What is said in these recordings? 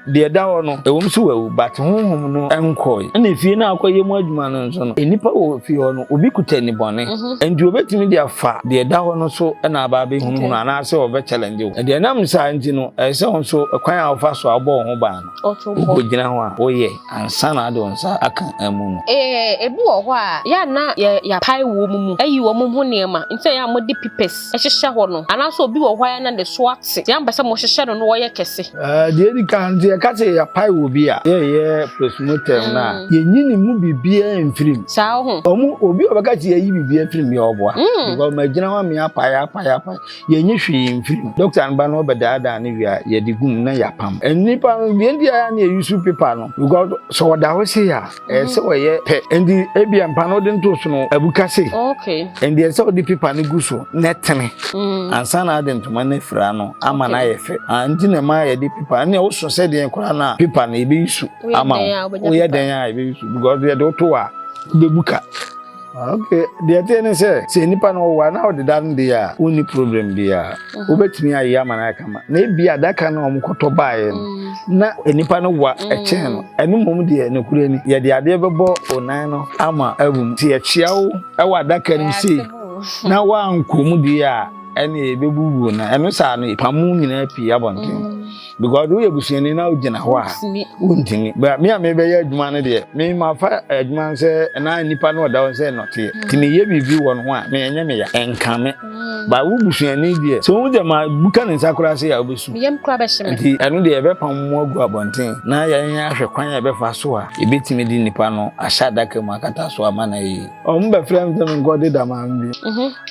deɛ ɛda hɔ no ɛwɔ mu so wawu but honhom no nkɔe ɛna efie no akɔyɛ mu adwuma no nso no nnipa wɔ fie hɔ no obi kuta nibɔne mhm. nti obetumi de afa deɛ ɛda hɔ no so ɛna aba abɛhunahuna anaasɛ ɔbɛ challenge wo ɛdeɛ nam saa nti no ɛyɛ sɛ nso kwan a wɔfa so a wɔbɔ wɔn ho ban no Wobɛgyina hɔ a woyɛ ansa na wode wo nsa aka amu no. Ee, ebi wɔ hɔ a, yɛ a na yɛapae wɔn mu ayi wɔn ho nneɛma, nti na yɛ a mode pipɛs hyehyɛ hɔ no. Anaasɛ obi wɔ hɔ a, yɛ a na ne so ate, nti na mompɛ sɛ mohyehyɛ no na ɔyɛ kɛse. Deɛ ɛdi kan no, sɛ yɛka sɛ yɛapae obi a, yɛreyɛ postmortem no a, yɛnyi ne mu biribiara mfiri mu. Saa, wohu? Obi a ɔbɛka sɛ yɛayi biribiara afiri mu yɛ ɔboa, because magyina hɔ a meapae, apae, apae. Yɛnye hwee mfir mu. Dɔkta no ba na ɔbɛdaadaa no wie a, yɛdze gu mu na yɛapam. Nyimpa no, hɛn dzi ara na yeusuu pepa no because sɛ ɔda hɔ sei a, ɛyɛ sɛ ɔyɛ pɛ. Ntsi ebia mpa na ɔdze ntoo so no, abuka sei. Ntsi ɛsɛ sɛ ɔdze pepa no gu so na ɛtsene ansa na adze ntoma no efir ano ama no ayɛ fɛ. Aa ntsi na ɛma yɛdze pepa. Nna ɔsõ sɛ dɛn koraa na pepa no yebeyusu ama wo. Woyɛ dɛn a, yebeyusu because yɛdze wo to hɔ a, ibebuka. Okay, deɛ ɛteɛ ne sɛ sɛ nipa no ɔwɔ a na ɔde da no deɛ a wonni problem biara mhm. wobɛtumi ayɛ ama no ayɛ kama na ebi adaka no ɔmo kɔtɔ baeɛ no mhm. na nipa no wa mhm. ɛkyɛn no ɛno mmom deɛ nokorɛ ni yɛde adeɛ bɛbɔ onan no ama abu mu nti yɛkyea wo ɛwɔ adaka no sei na woankɔ mu deɛ a ɛne yɛbɛbubuo no ɛno saa no pamu nyinaa pii abɔnten because woyɛ busuani na wogyina hɔ a wontumi but me a mebɛyɛ adwuma no deɛ me mafa adwuma no sɛ ɛna nnipa no ɔda hɔ sɛ nɔteɛ nti meyɛ biribi wɔ no ho a meɛnyɛ meya ɛnka me ba wo busuani deɛ sɛ wohu sɛ ma buka ne nsa koraa sɛ yɛ a wobɛsu nti ɛno deɛ yɛbɛpam mu agu abɔnten na yɛn ahwɛ kwan a yɛbɛfa so a yɛbɛtumi de nnipa no ahyɛ adaka mu akata so ama no ayi ɔmo bɛfrɛ m sɛ menkɔde dama bi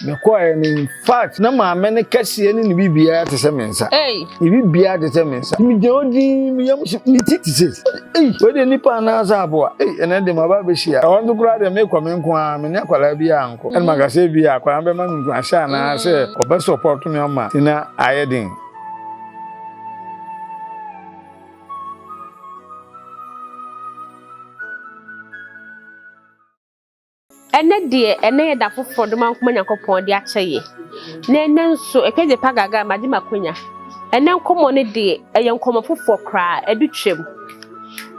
Me kɔɛ no in fact na maame no kɛseɛ ne ne biribiara te sɛ me nsa Ei. ne biribiara te sɛ me nsa megyina hɔ din me yam so me ti te sɛ ei wei deɛ nipa anaa sɛ aboa ei ɛnɛ de maba abɛhyia ɛhɔ nso koraa deɛ mekɔ me nko ara me ne akwadaa biara nkɔ ɛna maka sɛ bi a akwadaa no bɛma me nkuranhyɛ anaa sɛ ɔbɛ support me ama nti na ayɛ den Ɛnnɛ deɛ ɛnnɛ yɛ da foforɔ doma nkoma Nyankopɔn de akyɛ yɛ na ɛnnɛ nso ɛkɛ gye pa gaga magye makonya ɛnnɛ nkɔmɔ no deɛ ɛyɛ nkɔmɔ foforɔ koraa ɛdu twam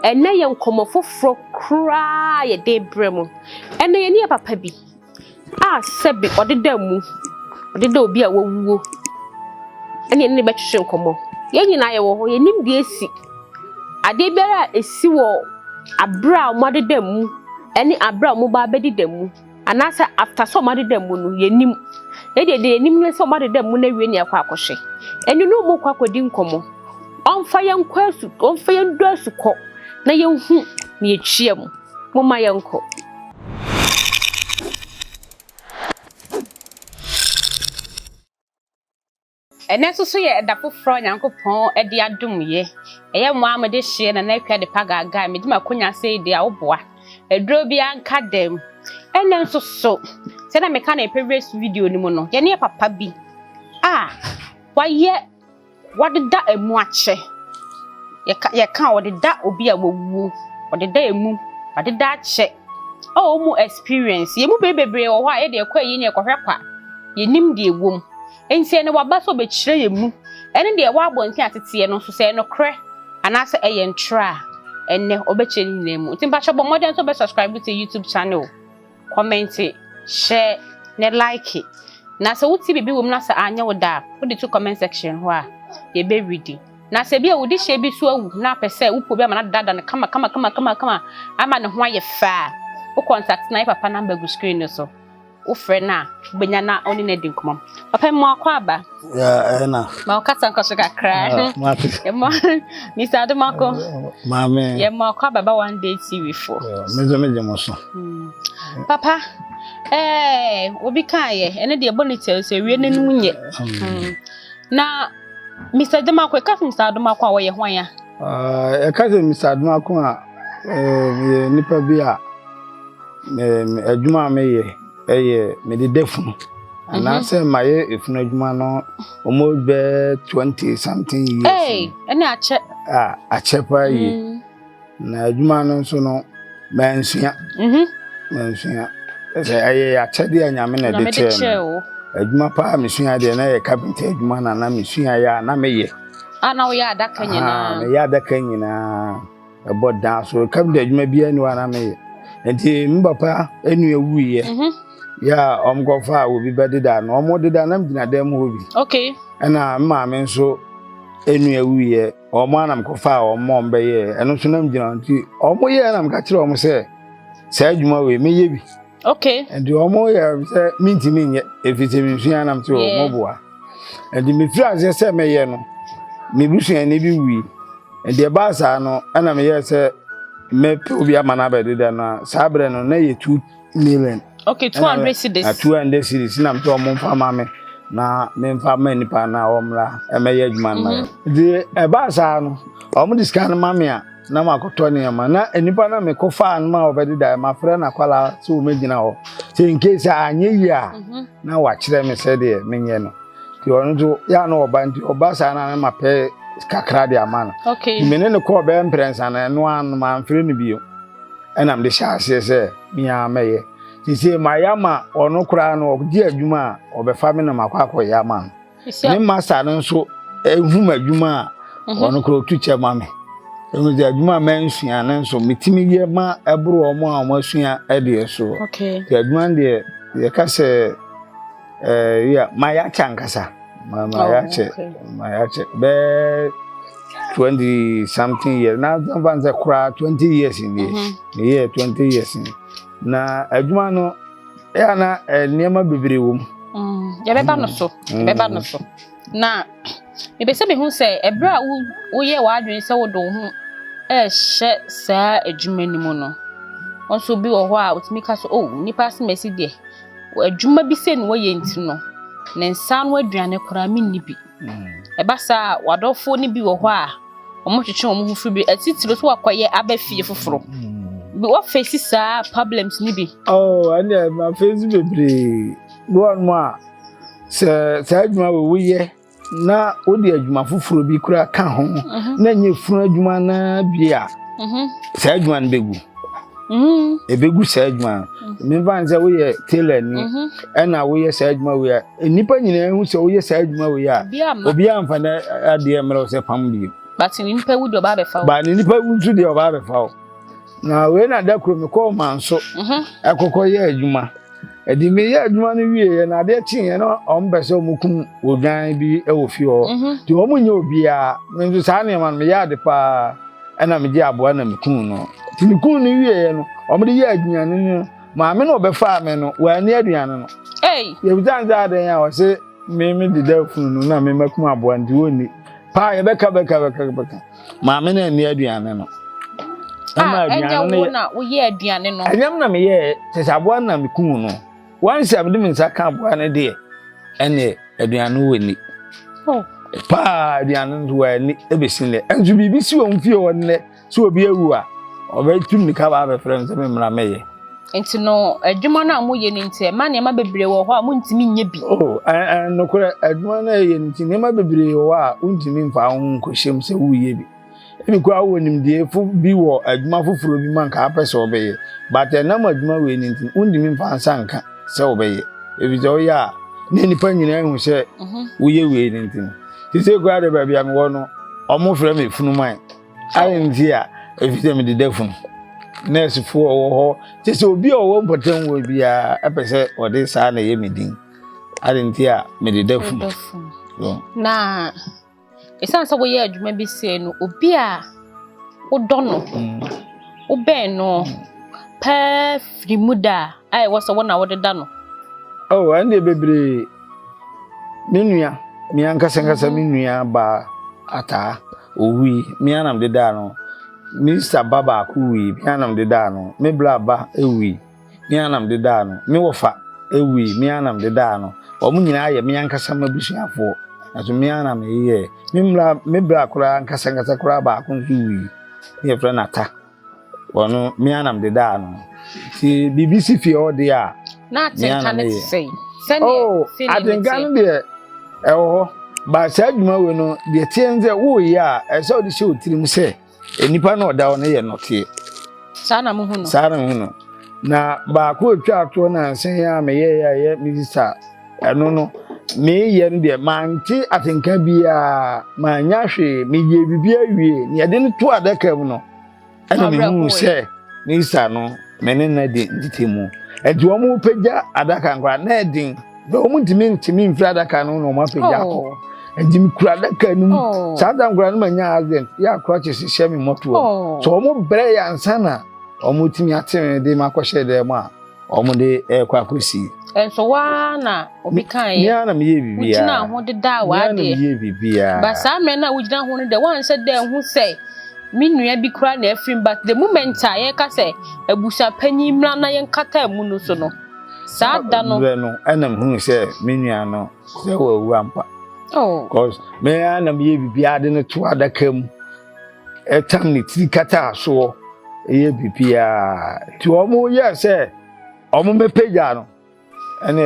ɛnnɛ yɛ nkɔmɔ foforɔ koraa yɛ de brɛ mu ɛnnɛ yɛ ne yɛ papa bi a sɛbi ɔde da mu ɔde da obi a wawuo ɛne ɛne bɛtwetwe nkɔmɔ yɛn nyinaa yɛ wɔ hɔ yɛ nim deɛ si Adeɛ biara a ɛsi wɔ aberɛ a wɔn adeda mu ɛne aberɛ a wɔn ba abɛdi da mu anaasɛ after sɛ wɔn adeda mu no yɛ nim ɛdeɛ deɛ yɛ nim ne sɛ wɔn adeda mu no awie na yɛkɔ akɔ hwɛ ɛne ne wɔn kɔ akɔ di nkɔmɔ wɔn fa yɛn kɔ asu wɔn fa yɛn du asu kɔ na yɛn hu na yɛ kyia mu mo ma yɛn kɔ. Ɛnnɛ nso so yɛ ɛda foforɔ a Onyankopɔn de adom yɛ. Ɛyɛ mo ara mode hyeɛ Nana Akua Adepa Gaagaa a medi m'akonya ase yi deɛ a woboa. Aduro biara nka dam. Ɛnnɛ nso so, sɛdeɛ meka no ɛpɛ wiase video no mu no, yɛne papa bi a wayɛ wadeda ɛmu akyɛ. Yɛka yɛka ɔdeda obi a wawuo, ɔdeda ɛmu, wadeda akyɛ. A wɔn mu experience, yɛn mu bɛyɛ bebree wɔ hɔ a yɛde ɛkɔ ayie ne ɛkɔhwɛ kwa. Yɛnim deɛ ɛwom. Enti ɛne waba sɛ ɔbɛkyerɛ yɛn mu ne deɛ ɛwɔ abɔnten a teteɛ no nso, sɛ ɛyɛ nokorɛ anaasɛ ɛyɛ ntorɔ a, ɛnnɛ ɔbɛkyerɛ ne nyinaa mu. Nti mpakyɛ bɔ mmɔden nso bɛ subscribe to YouTube channel, kɔmɛnte, hyɛ, ne like. Na sɛ wote biribi wɔ mu na sɛ anyɛ wo da a, wode to comment section hɔ a, yɛbɛredi. Na sɛ bi a wode hyɛ bi so awu na apɛ sɛ wopɛ obi ama no adada no kama kama kama kama kama ama ne ho ayɛ fɛ a, wo contact na yɛ papa number gu screen no so. wofrɛ no a wobɛnya na ɔne no adi nkɔmmɔ papa mu akɔ aba ɛna ma wokasa nkɔ so kakra ɛmɔ mr adomako maame yɛmɔ akɔ aba ba one day tv fo mede megye mo so hmm. papa ɛɛ obi kaayɛ ɛne deɛ ɛbɔ ne kyɛw sɛ wie no nom nyɛ hmm. na mr adomako ɛka sɛ mr adomako a wɔyɛ hwan a ɛka sɛ mr adomako a Meyɛ nipa bi a adwuma a meyɛ yɛ mede da funu mhm. anaasɛ mayɛ efunu adwuma no ɔmo bɛ twenty something years. Ee ɛne akyɛ. A akyɛ paa yie mm. na adwuma no nso no mansua mhm. mansua ɛsɛ ɛyɛ akyɛde a nyame na ɛde kyɛɛ mi adwuma paa mesua deɛ na yɛ kapenta adwuma na na mesua yɛ a na meyɛ. a na woyɛ adaka nyinaa. meyɛ adaka nyinaa. ɛbɔ dan so ɛka bi da adwuma biara ni hɔ a na meyɛ nti me papa nua wuiɛ mhm. yɛ a wɔkɔfa a obi bɛdeda no wɔdeda na megyina dan mu hɔ bi ɛna me maame nso nua wuiɛ wɔn a na mekɔfa a wɔn wɔn bɛyɛ ɛno nso na megyina nti wɔn yɛ na meka kyerɛ wɔn sɛ saa adwuma wei mɛyɛ bi nti wɔn yɛ sɛ mentumi nyɛ ɛfiri sɛ mesua nam te wɔn boa Ɛnti mefiri aseɛ sɛ mɛyɛ no me busuani bi wui ɛnti ɛbaa saa no ɛna meyɛ sɛ mɛpɛ obi ama no abɛdeda no a saa berɛ no na yɛ two million okay two hundred cedis na two hundred cedis na msɛ ɔmo nfa ma me na memfa ma nipa na ɔmmra ɛmɛyɛ adwuma no ma yɛ ɛnti ɛbaa saa no ɔmo de sika no ma me a na makɔtɔ nneɛma na nnipa na mekɔfaa no ma wɔbɛdedaeɛ mafrɛ no akwalaa sɛ wɔmɛgyina hɔ sɛ nkesi anyɛ yie a mhm. na wakyerɛ me sɛdeɛ menyɛ no nti ɔno nso yɛ a na ɔba nti ɔba saa na ne mapɛ kakra de ama no me ne no kɔɔ bɛyɛ mprɛnsa no ɛno ano mamfrɛ no bio ɛnam de hyɛ aseɛ sɛ meaa mɛyɛ sesei mayɛ ama ɔno koraa no ɔgye adwuma a ɔbɛfa me na makɔ akɔyɛ ama no ne masa no nso ehum adwuma a mhm. ɔno kora otu kyɛ ma me ehu sɛ adwuma a mansua no nso metumi yɛ ma ɛboro wɔn a wɔn asua deɛ so te adwuma no deɛ yɛka sɛ ɛɛ yɛ mayɛ akyɛ ankasa mayɛ akyɛ mayɛ akyɛ bɛɛ twenty something years na nfa n sɛ koraa twenty years ni meyɛ twenty years ni na adwuma no. ɛ ana eh, nneɛma bebree wɔ mu mm, yɛbɛba no so mm. yɛbɛba no so na mepɛ sɛ mehu sɛ ɛberɛ a woyɛ w'adwene sɛ wode wo ho ɛrehyɛ saa adwuma no mu no nso bi wɔ hɔ a wotumi ka so o oh, nnipa asemasi deɛ adwuma bi sɛ ne wɔyɛ nti no ne nsa no aduane koraa menni bi mm. ɛba saa wadɔfoɔ no bi wɔ hɔ a wɔtwetwe wɔn ho firi bi atitiriw so wɔakɔyɛ aba fie foforo wɔfɛsi saa problems no bi. Oh, ɛnna ɛma fɛsi bebree bi wɔn mu a sɛ saa adwuma wɔ woyɛ na wode adwuma foforɔ bi kura ka ho mhm. na nyɛ funu adwuma naa bi a mhm. saa adwuma no bɛgu mhm. ɛbɛgu saa adwuma no mefa ne sɛ woyɛ tailor ni ɛna woyɛ saa adwuma wei a Nnipa nyinaa hu sɛ woyɛ saa adwuma wei a, obiara mfa na adeɛ mmerɛ wo sɛ pam bio. But ne nipa wu deɛ ɔbaa bɛfa wo. Ba ne nipa wu nso deɛ ɔbaa bɛfa wo. Na wei na da koro mekɔɔ manso mhm. ɛkɔkɔ yɛ adwuma. Ɛde meyɛ adwuma no wieɛ na adeɛ kyeeɛ na wɔn pɛ sɛ wɔkum odwan bi wɔ fie hɔ. Mhm. Nti wɔn nyɛ obiara. Me nso saa nneɛma no meyɛ ade paa ɛna megye aboa na mekun no. Nti mekun no wieɛ no wɔn de yɛ aduane no Maame na ɔbɛfaa me no, wɔanni aduane no. Yɛbisa no sɛ adɛn a ɔse me me deda funu no na me makum aboa nti wɔnni. Paa yɛbɛka bɛka bɛka bɛka. Maame na anni aduane no. Ɛma ah, aduane no yɛ. na woyɛ aduane no. Ɛnyɛm na meyɛɛ te sɛ aboa na mekum no. Wansi a mede me nsa ka aboa no deɛ ɛne aduane no wɔnni. Oh. Paa aduane no wɔanni ɛbɛsi nnɛ. Ɛnso biribi si wɔn fie hɔ nnɛ. So obi awu a, ɔbɛtu mmirika ba abɛfrɛ me sɛ me mmra mɛyɛ. Nti no, adwuma no a moyɛ no nti, ɛma nneɛma bebree wɔ hɔ a montumi nyɛ bi. Oh, nokorɛ, adwuma no a ɛyɛ no nti, nneɛma bebree wɔ hɔ a wontumi mfa wo ho nkɔhyɛm sɛ woreyɛ bi. Ebi koraa wowɔ nimdeefo bi wɔ adwuma foforɔ bi mu a nka wopɛ sɛ wobɛyɛ, but ɛnam adwuma wei no nti, wontumi mfa nsa nka sɛ wobɛyɛ. Ɛfiri sɛ woyɛ a, na nnipa nyinaa hu sɛ mhm. woyɛ wei no nti no. Sisei koraa deɛ baabi a mewɔ no, wɔfrɛ me funuman. Adɛn nti a? Efisɛ mede da funu. Nɛɛsefo a wɔwɔ hɔ te sɛ obi a ɔwɔ mpɔtam wɔ biara pɛ sɛ ɔde saa na ɛyɛ me din. Adɛn nti a mede da funu? Na ɛsiane sɛ woyɛ adwuma bi sɛ no, obi a wodɔ no, mm. wobɛn no paa firi mu da a ɛwɔ sɛ wo na wode da no. Oh, ɛnde bebree. Me nua, me ankasa ankasa me mm-hmm. nua baa ataa owui. Me anam de daa no. Me sista ba baako wui. Me anam de daa no. Me bla ba ewui. Me anam de daa no. Me wɔfa ewui. Me anam de daa no. Wɔn nyinaa yɛ me ankasa m'abusuafoɔ. Nanso me anam yɛ. Me bla me bla koraa ankasa ankasa koraa baako nso wui. Ne yɛfrɛ no ata. wɔn mmea nam deda ano nti biribi si fie hɔ deɛ a mmea nam yɛ oh atenka no deɛ ɛwɔ hɔ ba saa adwuma wei no deɛ tie no sɛ woyɛ a ɛsɛ ɔde hyɛ otirim sɛ nnipa na ɔda hɔ no yɛ nɔteɛ saa na muhu no saa na muhu no na baako a otwa atoɔ na nsɛn a meyɛ yɛ a ɛyɛ minista Ɛno no, mereyɛ no deɛ, mante atenka biara, mannya hwee, meyɛɛ biribiara wie, na yɛde no to adaka mu no, ɛna mehuu sɛ ne sa no, me ne no adi ntetemu. Enti wɔpagya adaka no koraa, na ɛden, na wɔntumi ntumi mfiri adaka no na wɔapagya oh. akɔ. Enti mekura adaka no mu. Oh. Saa da nkora no manya accident, yɛ akora kye hyehyɛ me mmɔtoa. Oh. So wɔbrɛ yɛ ansa na wɔtumi ate me de makɔhyɛ dɛm a, wɔn de ɛrekɔ akɔsi. nso waa na obi kan yɛ. mia na meyɛ biribi a. wogyina ho deda a wadeɛ. mia na meyɛ biribi a. ba saa mmerɛ no a wogyina ho no dɛ wɔanhyɛ dɛ ho sɛ me nua bi koraa na afiri mu but the moment a yɛka sɛ abusua panyin mmra na yɛnkata mu no so no saa da no. mmerɛ no ɛna mehunu sɛ me nua no sɛ wɔawura mpa. oh cause mia na meyɛ biribi a de no to adaka mu. ɛtam ne tiri kataa soɔ ɛyɛ biribiara nti wɔn yɛ sɛ wɔn bɛpagya no ɛnna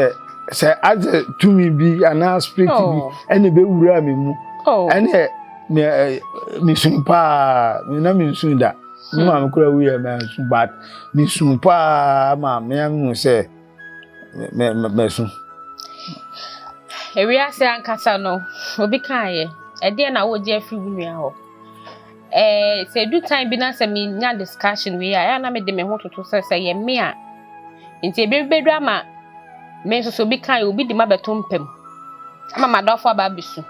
sɛ adze tumi bi anaa spirit bi oh. ɛnna bɛwura mi mu oh. ɛnna mi mi sun paa mi na mi sun da mi maame kura wuyɛ mi sun but mi sun paa maame ɛmu sɛ. mɛso. Ewiase ankasa no, obi kaeɛ, ɛdeɛn na wogye afiri wo nua hɔ? Ɛɛ sɛ edu time bi na sɛ menya discussion wei a, ɛyɛ na mede me ho toto sɛ sɛ yɛ me a, nti ebi bɛdwa ama me nso sɛ obi kaeɛ obi de ma bɛto mpam ama m'adɔfo aba abɛsu.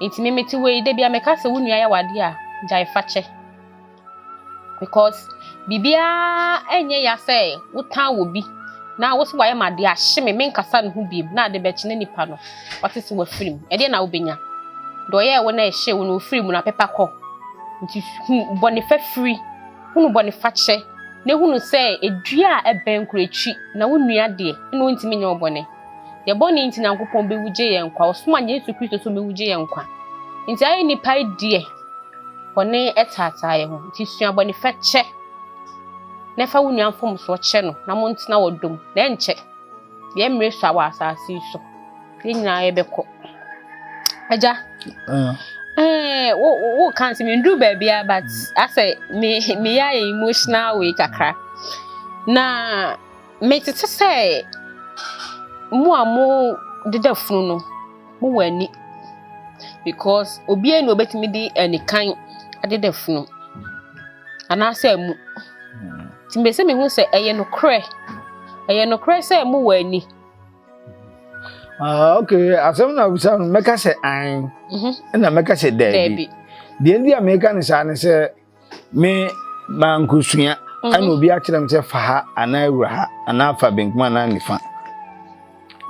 Nti me mete wei da bi a meka sɛ wo nua yɛ wade a, gyae fakyɛ. because biribiara nyɛ ya sɛ wotan obi na wo sɛ wayɛ ma adeɛ ahye me menkasa ne ho biem na ade bɛkyene nipa no wate sɛ wafiri mu ɛdeɛ na wobɛnya deɛ ɔyɛɛ wo na ɛhyɛ wo na ɔfiri mu na pepa kɔ nti hu bɔne fa firi hunu bɔne fa kyɛ na hunu sɛ edua a ɛbɛn koro akyi na wo nua deɛ ɛna ɔntumi nyɛ wo bɔne Yɛn bɔne nti Nyankopɔn bewu gye yɛn nkwa. Ɔsoma ne Yesu Kristo so mewu gye yɛn nkwa. Nti ayɛ nipa deɛ bɔne taataa yɛn ho. Nti sua bɔne fa kyɛ na fa wo nua mfomsoɔ kyɛ no na montena wɔ dom na ɛnkyɛ yɛn mmerɛ so a wɔ asase yi so yɛn nyinaa yɛbɛkɔ. Agya, ah. eh, wo wo kan sɛ menduru baabi a but mm. asɛ me meyɛ ayɛ emotional way kakra na Mete te sɛ mo a mo deda funu no mo wɔ ani because obiara na obetumi de anikan adeda funu anaasɛ mu nti mbɛ sɛ mehu sɛ ɛyɛ nokorɛ ɛyɛ nokorɛ sɛ mo wɔ ani. Ah, ok asɛm na abisa no mɛka sɛ an mhm. ɛna mɛka sɛ daabi deɛ nti a meka no saa ne sɛ Me maa nkosua ɛna mhm. obi akyerɛ me sɛ fa ha anaa wura ha anaa fa benkum anaa nifa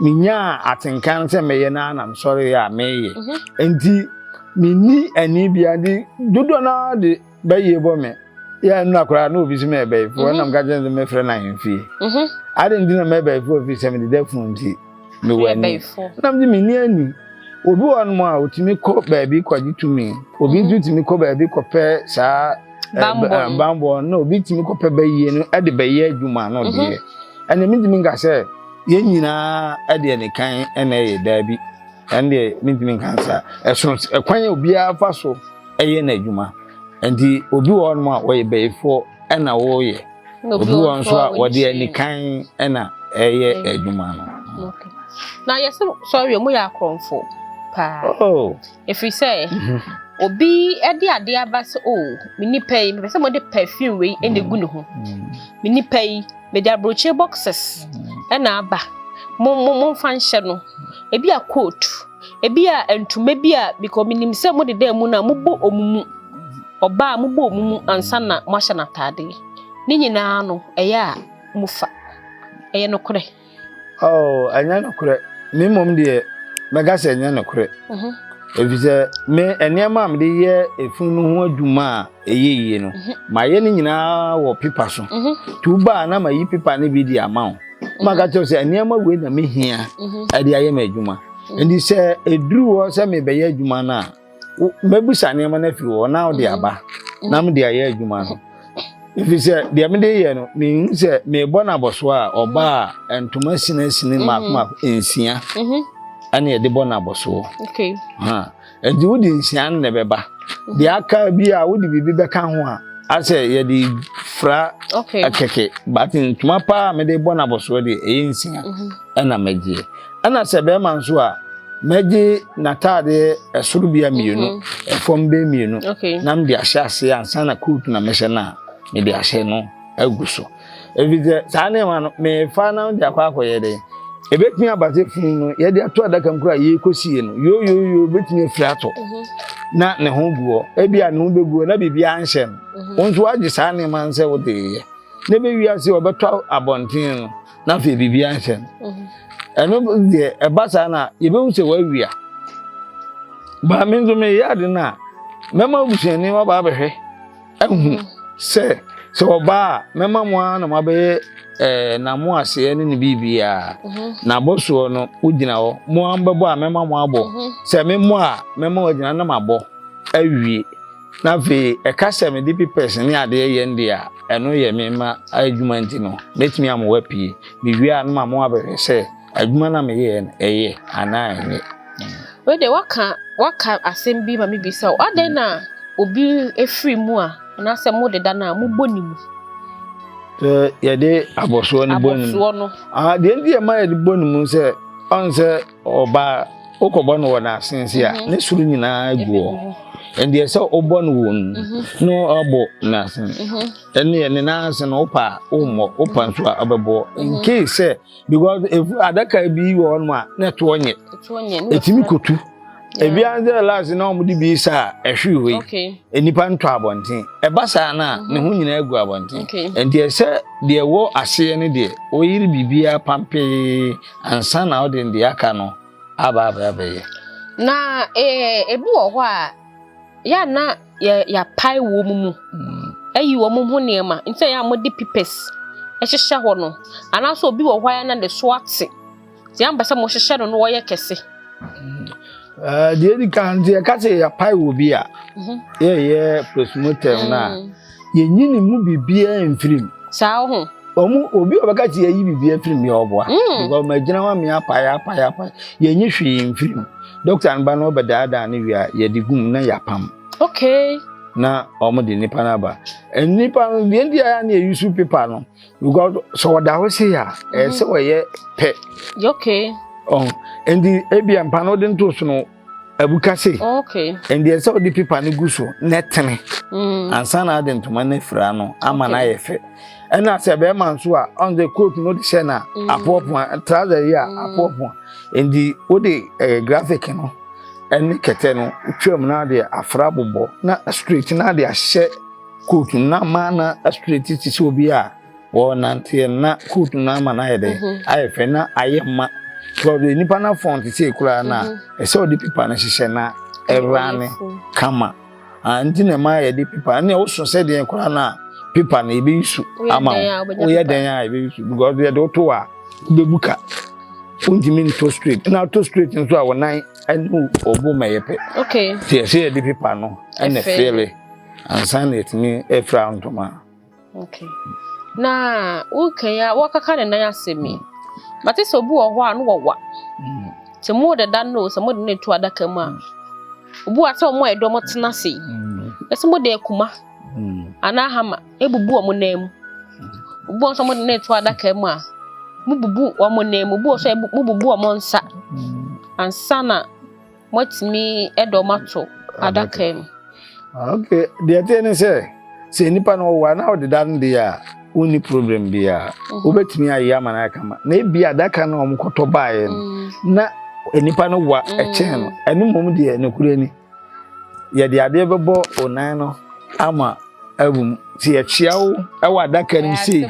menyaa atenka no sɛ mɛyɛ no ara na mesɔre yɛ a meyɛ mhm. nti menni ani bia de dodoɔ no ara de bɛyie bɔ me yɛ ɛno akoraa na obi so mɛ ɛbɛyifoɔ mhm. ɛnam ka kyerɛ sɛ mɛfrɛ no ahemfie adɛn nti na mɛbɛyifoɔ firi sɛ mede da funu nti mewɔ ani na mede me ni ani obi wɔ hɔnom a ɔtumi kɔ baabi kɔgye tumi obi nso tumi kɔ baabi kɔpɛ saa bambɔ eh, eh, na obi tumi kɔpɛ bɛyie no de bɛyɛ adwuma no mhm. deɛ ɛne mentumi nka sɛ yɛn nyinaa ɛdeɛ ne kan ɛna ɛyɛ daabi ɛne deɛ mentumi nka saa ɛsono ɛkwan a obiara fa so ɛyɛ n'adwuma nti obi wɔ hɔnom a wɔyɛ bɛyifoɔ ɛna wɔyɛ obi wɔ nso a wɔde anikan na ɛyɛ adwuma no na yɛsɛ sɔre mu yɛ akorɔmfo paa oh. ɛfiri sɛ mhm. obi de adeɛ aba sɛ o oh, me nipa yi mepɛ sɛ mode perfume wei ɛna gu ne ho mm. me nipa yi mede aburokyire boxes mm. ɛna aba momfa nhyɛ no ebi a coat Ebia ntoma bi a bikɔ minim sɛ mo deda mu no a mobɔ ɔmo mu, ɔbaa mobɔ ɔmo mu ansa na mo ahyɛ no ataade. Ne nyinaa no ɛyɛ a mo fa. Ɛyɛ nokorɛ? Oh, ɛnyɛ nokorɛ. Me mmom deɛ mɛka sɛ ɛnyɛ nokorɛ. Ɛfisɛ mhm. me nneɛma a mede yɛ efunu no ho adwuma a ɛyɛ yie no mhm. mayɛ no nyinaa wɔ pepa so mhm. nti woba a na mayi pepa no bi de ama wo mhm. maka kyerɛ sɛ nneɛma wei na mehia ɛde ayɛ me adwuma nti sɛ ɛduru hɔ sɛ mebɛyɛ adwuma no a mɛbusa nneɛma no afiri hɔ na wode aba na mede ayɛ adwuma no ɛfiri sɛ deɛ mede yɛ no mehu sɛ mebɔ no abɔsoɔ a ɔba a ntoma sinasini maakomaako nsia ɛne ɛde bɔ no abɔsoɔ Nti wode nhyia no na ɛbɛba. Mhm. Deɛ aka bi a wode biribi bɛka ho a asɛ yɛde fra kɛkɛ but ntoma paa a mede bɔ no abɔsoɔ deɛ ɛyɛ nsia mhm. ɛna mɛgyeɛ. Ɛna sɛ bɛrima nso a mɛgye n'ataadeɛ ɛsoro bia mmienu mhm. ɛfam bɛ mmienu na mede ahyɛ aseɛ ansa na coat na mɛhyɛ no a mede ahyɛ no agu so. Ɛfiri sɛ saa nneɛma no, merefa na wode akɔ akɔyɛ dɛn? Ɛbɛtumi aba sɛ funu no yɛde ato adaka mu koraa yɛrekɔsie no, yooyooyoo bɛtumi afiri atɔ mhm. na ne ho gu hɔ. Ebi a ne ho bɛgu hɔ na biribiara nhyɛ no. Mhm. Wo nso woagye saa nneɛma no sɛ wode yɛ. Na ɛbɛwie ase ɔbɛtɔ abɔnten no na afei biribiara nhyɛ no. Mhm. Ɛno deɛ ɛba saa no a yɛbɛhu sɛ woawia. Baa me nso meyɛ ade no a mɛma abusuani waba abɛhwɛ. ahu sɛ sɛ ɔba a mɛma mo ara na moabɛyɛ ɛɛ na mo aseɛ ne ne biribiara mhm. na abɔsoɔ no wogyina hɔ mo ara bɛbɔ a mɛma mo abɔ mhm. sɛ memmɔ a mɛma wagyina na mabɔ awie na afei ɛka sɛ mede pepɛs ne adeɛ yɛ nde a ɛno yɛ mema adwuma nti no mɛtumi amoa pii mewie a no ma mo abɛhwɛ sɛ Adwuma no a meyɛeɛ no, ɛyɛ anaa ɛnyɛ? Wei deɛ waka waka asɛm bi ma mebisa wo. Adɛn na obi firi mu a anaasɛ modeda no a mobɔ ne mu? Sɛ yɛde abɔsoɔ no bɔ ne mu. Abɔsoɔ no. Ah, deɛ nti ɛma yɛde bɔ ne mu sɛ ɔn sɛ ɔbaa wokɔbɔ no wɔ n'asen se a mhm. ne soro nyinaa gu hɔ. Ɛndeɛ sɛ wobɔ no wɔ no mhm. na ɔabɔ n'asen. Mhm. Ɛneɛ ne n'asen no wopa a wommɔ, wopa nso a wobɛbɔ. In case sɛ because efu adaka bi wɔ hɔ nom a na ɛtoɔ nyɛ ɛtumi kotu ebi ara sɛ last na wɔn de bi sa a ɛhwe hɔ yi nnipa ntɔ abɔnten ɛba saa na ne ho nyinaa gu abɔnten nti ɛsɛ deɛ ɛwɔ aseɛ no deɛ wɔyere biribiara pampee ansa na wɔde deɛ aka no aba abɛyɛ. na ebi wɔ hɔ a. yɛ a na yɛ yɛapae wɔn mu ayi wɔn ho nneɛma nti na yɛ a wɔde pipɛs hyehyɛ hɔ no anaasɛ obi wɔ hɔ a na ne so ate nti ampɛ sɛ wɔhyehyɛ no na wɔyɛ kɛse. deɛ di kan nti yɛka sɛ yɛapae wɔ bi a mhm. yɛyɛ postmortem no a mm. yɛnyi ne mu biribiara mfiri mu. Saa ho. Wɔn obi a ɔbɛka sɛ yɛyi biribiara mfiri mu yɛ ɔboa. Mm. Because wɔn agyina wɔn amea apae apae apae yɛnyi hwee mfiri mu. Dɔkta no ba no ɔbɛdaadaa ne wie a yɛde gum na yɛapam. Okay. Na wɔn de nipa no aba. Nipa no deɛ deɛ ayɛ ne yɛyi su pepa no because sɛ ɔda hɔ se a ɛsɛ wɔyɛ pɛ. Okay. Ɔn oh, nti ebi mpa no de nto so no. abu ka se ɛndeɛ sɛ wode pepa no gu so na ɛtene mm. ansa na ade ntoma no afira no ama no ayɛ fɛ ɛna sɛ bɛrima nso a ɔn sɛ coat no wode hyɛ no a mm. apoapoa trouser yi a mm. apoapoa ɛnti wode eh, graphic no ɛne kɛtɛ no twam na ade afra bobɔ na straight na ade ahyɛ coat no na ma na straight te sɛ obi a Wɔnanteɛ no na coat no ama no ayɛ dɛ ayɛ fɛ na ayɛ ma because nipa na fɔn te sɛ ekura na ɛsɛ ɔde pipa no hyehyɛ na ɛwura ne kama nti na ɛma yɛde pipa ɛna ɔso sɛ deɛ kura na pipa no ebi su ama wo oyɛ dɛn a ebi su because yɛde ɔto a bebu ka wontumi nto straight na ato straight nso a wɔnan ɛne ɔbo ma yɛ pɛ te ɛsɛ yɛde pipa no ɛna fɛlɛ ansa na ɛtumi ɛfira ntoma. Okay. Na wokan ya wɔkaka ne nan asɛm yi. Mate sɛ obi wɔ hɔ a no wɔwa. Mm. Sɛ mo deda no sɛ mo de ne to adaka mu a. Mm. Obi wa sɛ ɔmo a ɛdɔ mo tena se. Mm. Ɛsɛ mo de akuma. Mm. Ana hama ebubu ɔmo nan mu. Mm. Obi wɔ sɛ mo de ne to adaka mu a mo bubu ɔmo nan mu. Obi wɔ sɛ mo bubu ɔmo nsa. Mm. Ansa na Moatumi de wɔn ato adaka mu. Ah, ok, deɛ ɛteɛ ne sɛ sɛ nipa no ɔwɔ a na ɔde da no deɛ a wonni problem biara mhm. wobɛtumi ayɛ ama no ayɛ kama na ebi adaka no a wɔkɔtɔ baeɛ no mm. na nipa no wa mm. ɛkyɛn no ɛno mmom deɛ nokorɛ ni yɛde adeɛ bɛbɔ onan no ama Ɛwom, sɛ yɛkyea wo wɔ adaka no mu sei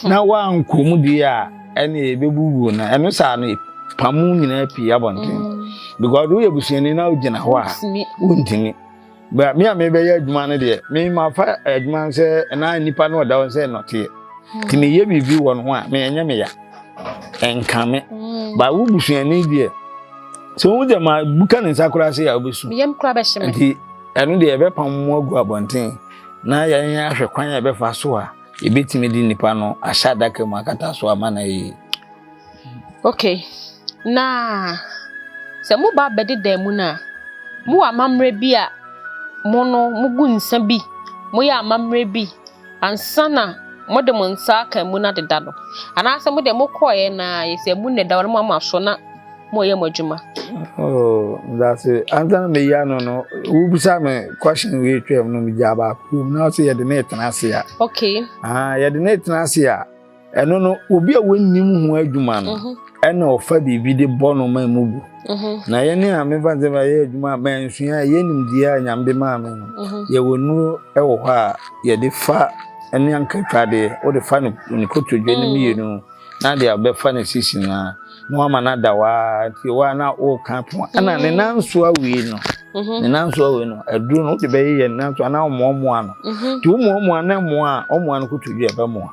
na woankɔ mu deɛ a, ɛne yɛbɛbu wuo no. Ɛno saa no, pam mu nyinaa pii abɔnten. Mm. Because woyɛ busuani na wogyina hɔ a, wontumi. But me a mebɛyɛ adwuma no deɛ, memafa adwuma no sɛ ɛna nnipa no ɔda hɔ sɛ nnɔteɛ. Mm. Nti meyɛ biribi wɔ no ho a, menyɛ me ya. Ɛnka me. Mm. But wo busuani deɛ, sɛ wohu sɛ ma buka ne nsa koraa sɛ a, wobɛsu. Meyam koraa bɛhye me. Nti Ɛno deɛ yɛbɛpam mo agu abɔnten na yɛn ahwɛ kwan a yɛbɛfa so a yɛbɛtumi de nnipa no ahyɛ adaka mu akata so ama no ayɛ ok na sɛ moba bɛde dan mu no a mowɔ amammerɛ bi a mo no mogu nsa bi moyɛ amammerɛ bi Ansa na mode mo nsa aka emu no adeda no, anaasɛ mo deɛ mokɔeɛ na ayɛ sɛ emu nneda hɔ na moama so na moreyɛ mo adwuma? Oh, that's it. Ansa na meyi ano no, wobisa me question wei twam no, megyaa baako wom na ɔsɛ yɛde no retena ase a. Okay. Ah, yɛde no retena ase a. ɛno no obi a wɔnnim ho adwuma no mhm. ɛna ɔfa biribi de bɔ no ma mu bu mhm. na yɛne a mefa sɛ ma yɛ adwuma a mansua a yɛnim deɛ a nyame de maa me no mhm. yɛwɔ nnuro wɔ hɔ a yɛde fa ɛne ankatwadeɛ wode fa no nkotodwe no mmienu na de abɛfa no sisi no a na wama no ada hɔ ara nti wɔ a na woka to a ɛna ne nan so awie no mhm. ne nan so awie no aduro no wode bɛyeyɛ ne nan so anaa ɔmoamoa no mhm. nti womoamoa na mmoa a ɔmoa no koto dwa ɛbɛmoa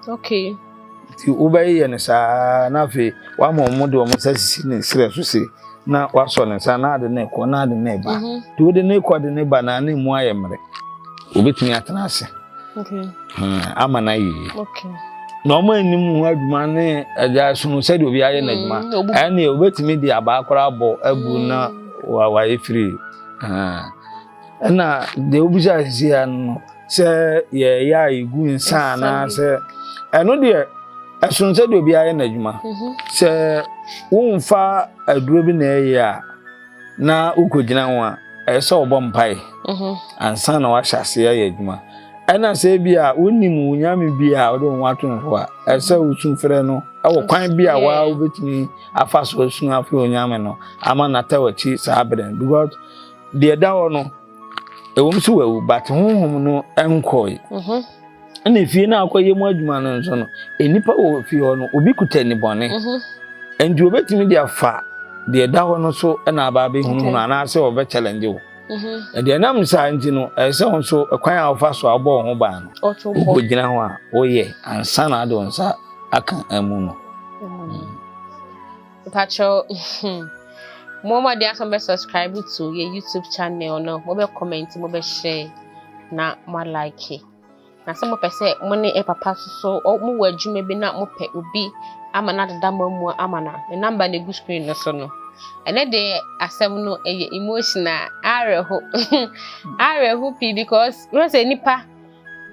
nti wobɛyeyɛ no saa na afei woama ɔmo de ɔmo nsa sisi ne serɛ so se na wasɔ ne nsa na ade ne kɔ na ade ne ba mhm. nti wode ne kɔ de ne ba na ne mu ayɛ mmerɛ Obetumi atena ase. Okay. Ama na yie. Okay. Na wɔn anim ho adwuma ne ɛgya sono sɛdeɛ obi ayɛ n'adwuma. Mm, Ɛnneɛ obetumi de abaa koraa bɔ agu mm. na wayɛ firi. Ɛna deɛ obisa sisi ya no sɛ yɛyɛ a yɛgu nsa anaasɛ ɛno deɛ ɛsono sɛdeɛ obi ayɛ n'adwuma. Mhm. Sɛ womfa aduro bi na ɛyɛ a. na wokogyina ho a ɛyɛ sɛ wɔbɔ mpae mhm. ansa na wahyɛ ase ayɛ adwuma ɛna sɛ bi a wonim wo nyame bi a wode wo ho ato no so a ɛyɛ sɛ wosu frɛ no ɛwɔ kwan bi a waa wobɛtumi afa so asu afrɛ onyame no ama nata wakyi saa berɛ no because deɛ da hɔ no ɛwom sɛ wawu but honhom no nkɔe mhm. ɛna efie no akɔyɛ mu adwuma no nso no nnipa wɔ fie hɔ no obi kuta nnebɔne mhm. nti obetumi de afa deɛ ɛda hɔ no so ɛna aba abɛhunahunu anaasɛ ɔbɛ challenge wo mhm. ɛde ɛnam saa nti no ɛsɛ wo nso ɛkwan a wofa so a wobɔ wo ho baa no wokɔgyina ho a woyɛ ansa na ade wo nsa aka amu no Mpakyɛw hmm mo mo adi asɛm bɛ subscribe to yɛ YouTube channel no mo bɛ comment mo bɛ share na mo like na sɛ mo pɛ sɛ mo ne ɛ papa soso mo wɔ adwuma bi na mo pɛ obi ama na deda mo amu ama na ne number na egu screen no so no ɛnɛ de asɛm no ɛyɛ emotional awerɛho awerɛho pii because wɔn sɛ nipa.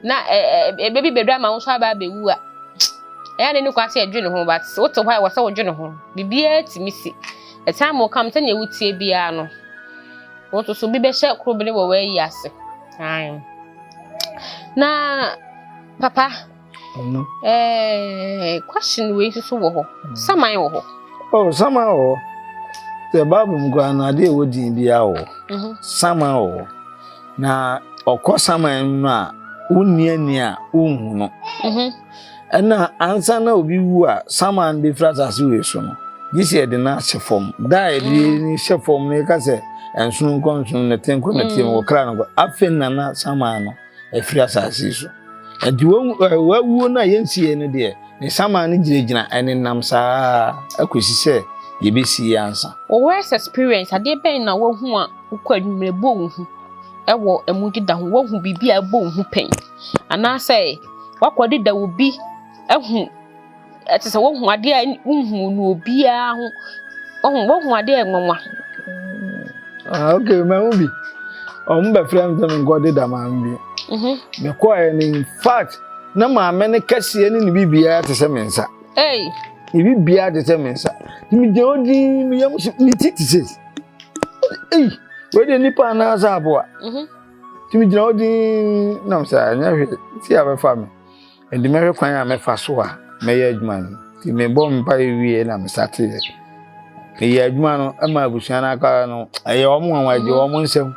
na ɛbɛ bi bɛduru ama wo nso aba abɛwu a ɛyɛ a n'ani kɔ ase ɛdwene ho but wote hɔ a ɛwɔ sɛ wodwene ho biribiara tumi si ɛsan mo kam sɛnea wotie biara no wo nso so bi bɛhyɛ koro bene wɔ w'ayi ase na papa Ɛno. Ɛɛ question wei nso so wɔ hɔ. Mm. Saman wɔ hɔ. Oh, saman wɔ hɔ. The Bible mu koraa no ade a ɛwɔ din biara wɔ hɔ. Mhm. Saman wɔ hɔ. Na ɔkɔ saman mu no a wonni ani a wonhu no. Mhm. Ɛna ansa na obi wu a saman bɛfiri asase wei so no, gye sɛ yɛde no ahyɛ fam. Da a yɛde mm. no hyɛ fam no yɛka sɛ ɛnsono nkɔ nsono nɛte nkɔ nɛte mu mm. wɔkra no nkɔ. Afei na na saman no afiri asase yi so. Nti w'awuo no a yɛnsieɛ no deɛ, ne saman no gyinagyina ɛnenam saa ara kɔsi sɛ yɛbɛsie ansa. Wo worst experience, adeɛ bɛn na woahu a wokɔ anwummerɛ bɔ wo hu wɔ ɛmu deda ho? Woahu biribi a ɛbɔ wo hu pɛn? Anaasɛ woakɔ deda wo bi ahu ɛte sɛ wohu adeɛ a wohu no obiara ho ɔhu wohu adeɛ a nwanwa. ah ok mahu bi ɔmo bɛfrɛ me sɛ menkɔde da maame bi mhm. mekɔɛ no in fact na maame no kɛseɛ ne ne biribiara te sɛ me nsa ne biribiara te sɛ me nsa nti megyina hɔ din meyɛ mo so ne ti te sɛ ei wei deɛ nnipa anaasɛ aboa nti mhm. megyina hɔ din nam sɛ ɛnyɛ hwee ti a bɛfa me Enti mɛhwɛ kwan a mɛfa so a mɛyɛ adwuma no. Nti mebɔ mpaeɛ wie na mesateeɛ. Meyɛ adwuma no ma abusua no aka no, ɛyɛ wɔn nwanwa, ɛgye wɔn nsam.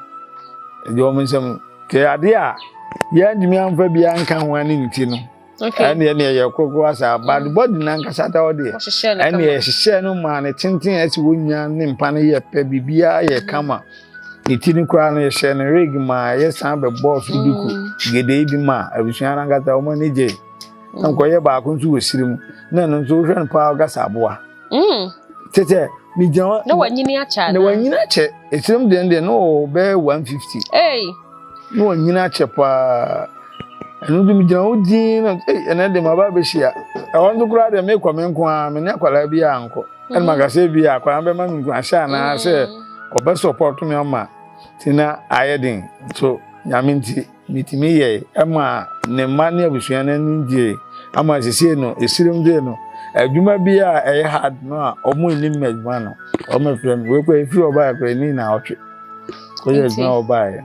Ɛgye wɔn nsam. Nti adeɛ a yɛantumi amfa biara nka ho ne nti no, ɛne ɛne ɛyɛ kokoro asa bad body nankasa da ɔdeɛ ɛne ɛhyehyɛ no maa ne tenten ɛsi wɔn nyinaa ne mpa no yɛ pɛ biribiara yɛ kama. Ne ti no koraa no, yɛhyɛɛ no rig maa yɛsan bɛbɔɔ so duku gedee bi maa abusua no ankasa wɔn ani gyee. Na nkɔyɛ baako nso wɔ siri mu. Na ɛno nso wohwɛ no paa ɔkasa aboa. Mm. Kyɛ sɛ megyina hɔ. Na wanyini akyɛ anaa? Na wanyini akyɛ. Esirim deɛ deɛ na ɔwɔ bɛyɛ 150. Hey. na wɔanyini akyɛ paa ɛno nti megyina hɔ dinn na ei ɛnɛ de maba abɛhyia ɛhɔ nso koraa deɛ mekɔ me nko ara me ne akwadaa bi a nkɔ ɛna mm. maka sɛ bi a akwadaa bɛma me nkuranhyɛ anaa sɛ mm. ɔbɛ support me ama nti na ayɛ den so nyame nti metumi yɛe ɛma ne mma ne abusua no ani gyee ama sesie no ɛsirim dee no adwuma bi a ɛyɛ hard no a ɔmo nnim adwuma no ɔmo frɛ me wekɔ ɛfiri ɔbaa kora ɛni na ɔtwe Woyɛ adwuma wɔ baeɛ.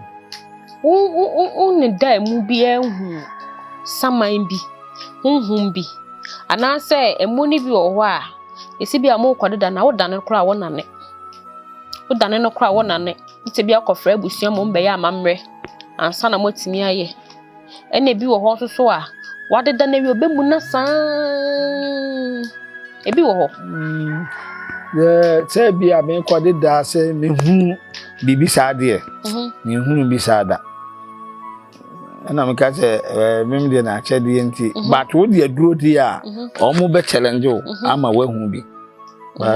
Wo wo wo wo ne da emu biara hu saman bi, honhom bi, anaasɛ emu no bi wɔ hɔ a, esi bi a mokɔ deda na woda no koraa wɔnane. Woda no koraa wɔnane. Esi bi akɔfrɛ abusua ma wɔn bɛyɛ amammerɛ ansa na moatumi ayɛ. ɛna ebi wɔ hɔ nso so a wadeda no awie ɔbɛmu no saa ebi wɔ hɔ mm. sɛ bi a mekɔde daa sɛ mehunu biribi saa deɛ mhm. mehunu bi saa da ɛna meka sɛ mem deɛ na akyɛdeɛ nti mhm. but wo deɛ duro di a mhm. ɔmo bɛ challenge wo ama woahu bi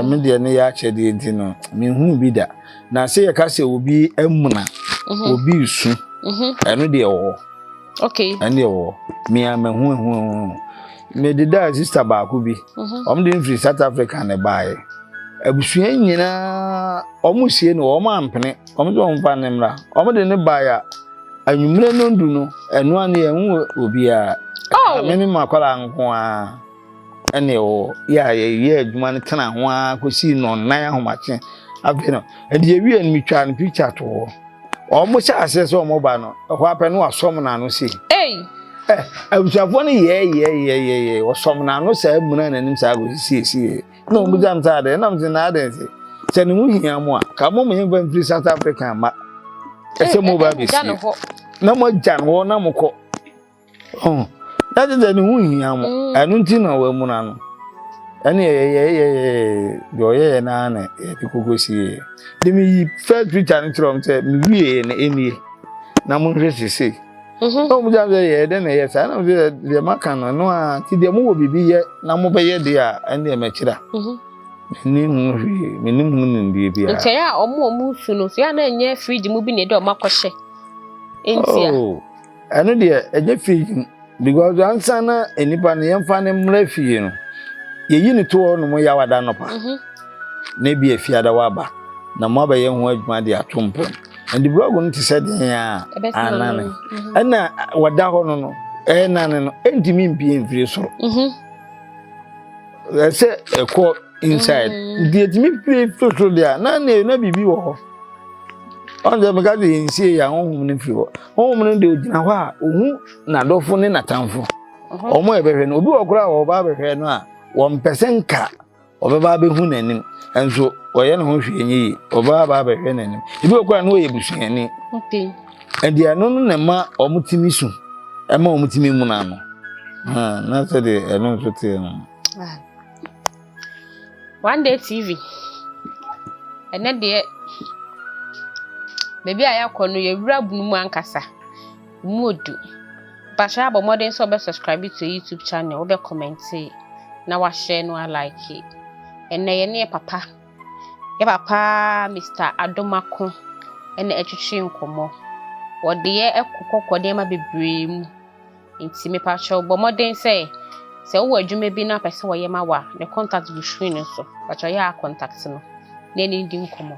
me deɛ ne yɛ akyɛdeɛ nti no mehunu bi da na sɛ yɛka sɛ obi amuna mhm. obi nsu mhm. ɛno deɛ wɔ hɔ ɛno deɛ wɔ hɔ mea mahu ahu ahu ahu mede daa sista baako bi mhm. ɔm de mfiri south africa ne baeɛ abusua nyinaa ɔmo sie no ɔmo ampene ɔmo sɛ ɔmo fa ne mmra ɔmo de ne baeɛ a anwummerɛ no ndu no ɛno a ne yɛhu obiara oh! me ne makɔla nko ara ɛne ɔwɔ yɛ a yɛyɛ adwuma no tena ho ara kɔsii nnɔnnan ahomakye afei no ɛde yɛwie no metwaa no picture to hɔ wɔn hyɛ aseɛ sɛ wɔn ba no ɛhɔ apɛ no wasɔm n'ano sei eh, abusuafoɔ no yɛɛyɛɛyɛɛyɛ wɔsɔm n'ano saa muna n'anim saa kɔsisiesie na wɔn bisa m sɛ adɛn nam sɛ na adɛn sɛ sɛ ne ho hia mo a ka mo mo yɛn fa mfiri South Africa ma ɛsɛ mo ba bɛsie na mo agya no hɔ na mo kɔ Oh, na kyerɛ sɛ ne ho hia mo mm. ɛno nti na wɔamuna no ɛne yɛyɛyɛyɛyɛ ɔyɛyɛ no ara na yɛde koko sie de meyi first picture no kyerɛ m sɛ mewieɛ na ɛnie na monhwɛ sesei mhm. na wɔmgya sɛ yɛyɛ dɛ na ɛyɛ saa na mesɛ deɛ maka no ɛno a nti deɛ mowɔ biribi yɛ na mobɛyɛ deɛ a ɛndeɛ mɛkyerɛ mhm. menni ho hwee mennim ho nimdeɛ biara nti ɛyɛ a ɔmo ɔmo su no so yɛ a na ɛnyɛ fridge mu bi na ɛde ɔmo akɔhyɛ ntia oh. Ɛno deɛ ɛnyɛ fie mu because ansa na nipa no yɛmfa no mmra fie no yɛyi no to hɔ nom yɛ awada nɔpa mhm. na ebi afiada waba na mo abɛyɛ ho adwuma de ato mpam ɛnde blɔg no te sɛ deɛ a anane mhm. ɛna wɔda hɔ no no ɛnane no ɛntumi mpie mfiri soro mhm. ɛsɛ ɛkɔ inside nti ɛtumi pie firi soro deɛ a na na biribi wɔ hɔ ɔn sɛ meka sɛ yɛnsie yɛ ahohom no firi hɔ Honhom no de ogyina hɔ a ohu n'adɔfo ne n'atamfo. Wɔn a ɛbɛhwɛ no, obi wɔ koraa a wɔba abɛhwɛ no a wɔmpɛ sɛ nka ɔbɛba abɛhu n'anim, nso ɔyɛ ne ho hwee nyɛ yie, ɔba aba abɛhwɛ n'anim. Ebi wɔ koraa na ɔyɛ busuani. Ɛde ɛno no na ɛma wɔtumi su, ɛma wɔtumi muna no. Na sɛdeɛ ɛno nso teɛ no. One day TV, ɛnɛ deɛ baabi a yɛakɔ no yɛ wura bunu mu ankasa. Emu odu. Bakyɛ abɔ mmɔden sɛ ɔbɛ subscribe to YouTube channel, ɔbɛ comment na wahyɛ no alike. Ɛnɛ yɛ ne yɛ papa. Yɛ papa Mr. Adomako ɛna ɛtwetwe nkɔmmɔ. Wɔde yɛ ɛkɔ kɔkɔ nneɛma bebree mu. Nti mepa kyɛw bɔ mmɔden sɛ sɛ wowɔ adwuma bi na wopɛ sɛ wɔyɛ ma wo a, ne contact gu screen no so. Pa kyɛw yɛ a contact no na ɛne no di nkɔmmɔ.